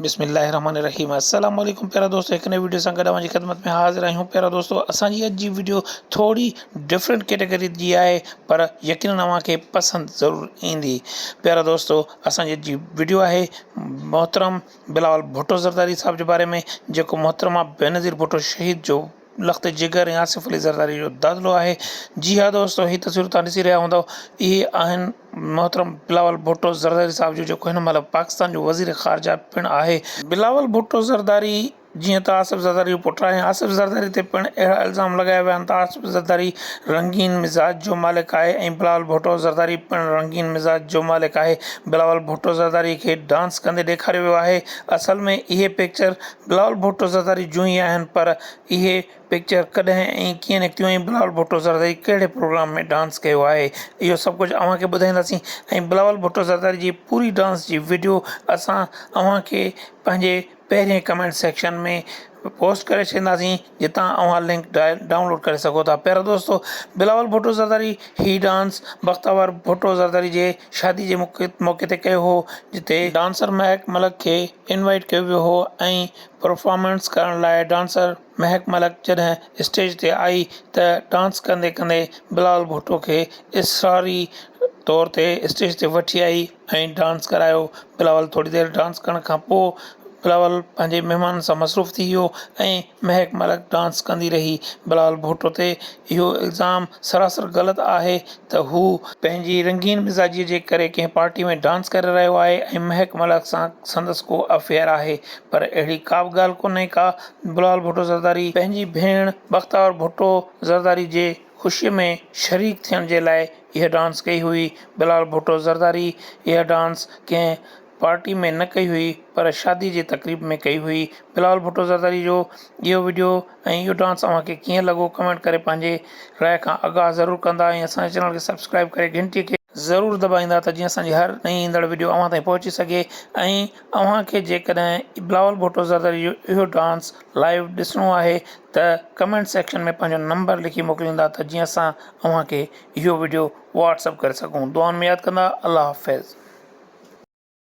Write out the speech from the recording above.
بسم الله الرحمن الرحيم السلام عليڪم پيارا دوستو هڪ نئين ويڊيو سان گڏ اوهان جي خدمت ۾ حاضر آهيون پيارا دوستو اسان جي اڄ جي ويڊيو ٿوري ڊفرنٽ ڪيٽيگري جي آهي پر يقينن اوهان کي پسند ضرور ايندي پيارا دوستو اسان جي اڄ جي ويڊيو آهي محترم بلاول ڀٽو زرداري صاحب جي باري ۾ جيڪو محترمه بينظير ڀٽو شهيد جو لخت جگر ۽ آصف علي زرداري جو دادلو آهي جي ها دوستو هي تصويرون توهان ڏسي رهيا هوندؤ اهي آهن محترم بلاول ڀٽو زرداري صاحب جون جيڪو هن مهل پاڪستان جو وزير خارجه پڻ آهي بلاول ڀٽو زرداري جيئن ته آصف زرداري جو پٽ آهي آصف زرداري تي پڻ اهڙا الزام لڳايا ويا آهن ته آصف زرداري رنگين مزاج جو مالڪ آهي ۽ بلاول ڀٽو زرداري پڻ رنگين مزاج جو مالڪ آهي بلاول ڀٽو زرداري کي ڊانس ڪندي ڏيکاريو ويو آهي اصل ۾ اهي پڪچر بلاول ڀٽو زرداري جون ئي آهن پر اهي پڪچر ڪڏهن ۽ ڪيئن نڪتيون ۽ بلاول ڀٽو زرداري ڪهڙي پروگرام ۾ ڊانس ڪيو آهي اهو سڀ ڪجهه اوهان کي ٻڌائينداسين ۽ بلاول ڀٽو زرداري جي پوري ڊانس جي وڊيو اسان اوهان کي پنهنجي پهرين ڪمينٽ سيڪشن ۾ پوسٽ ڪري ڇڏينداسين جتان اوهان لنڪ ڊائونلوڊ ڪري سگهو ٿا پيارا دوستو بلاول ڀٽو زرداري هي ڊانس بختاور ڀٽو زرداري جي شادي جي موقعي تي ڪيو هو جتي ڊانسر مهڪ ملڪ کي انوائيٽ ڪيو ويو هو ۽ پرفارمنس ڪرڻ لاء ڊانسر مهڪ ملڪ جڏهن اسٽيج تي آئي ته ڊانس ڪندي ڪندي بلال ڀٽو کي اصراري طور تي اسٽيج تي وٺي آئي ۽ ڊانس ڪرايو بلاول ٿوري دير ڊانس ڪرڻ کان پوء بلاول پنهنجي مهمانن سان مصروف ٿي ويو ۽ مهڪ ملڪ ڊانس ڪندي رهي بلاول ڀٽو تي اهو الزام سراسر غلط آهي ته هو پنهنجي رنگين مزاجيء جي ڪري ڪنهن پارٽيء ۾ ڊانس ڪري رهيو آهي ۽ مهڪ ملاڪ سان سندس ڪو افيئر آهي. پر اهڙي ڪابه ڳالهه ڪونهي ڪا. بلاول ڀٽو زرداري پنهنجي ڀيڻ بختاور ڀٽو زرداري جي خوشيء ۾ شريڪ ٿيڻ جي لاء اها ڊانس ڪئي هئي. بلاول ڀٽو زرداري اها ڊانس ڪنهن پارٽي ۾ نه ڪئي هئي پر شادي جي تقريب ۾ ڪئي هئي بلاول ڀٽو زرداري جو اهو وڊيو ۽ اهو ڊانس اوهان کي ڪيئن لڳو ڪمينٽ ڪري پنهنجي راء کان آگاهه ضرور ڪندا ۽ اسان جي چينل کي سبسڪرائب ڪري گهنٽي کي ضرور دٻائيندا ته جيئن اسان جي هر نئين ايندڙ وڊيو اوهان تائين پهچي سگهي ۽ اوهان کي جيڪڏهن بلاول ڀٽو زرداري جو اهو ڊانس لائيو ڏسڻو آهي ته ڪمينٽ سيڪشن ۾ پنهنجو نمبر لکي موڪليندا ته جيئن اسان اوهان کي اهو وڊيو واٽس اپ ڪري سگهون دعائن ۾ ياد ڪندا الله حافظ.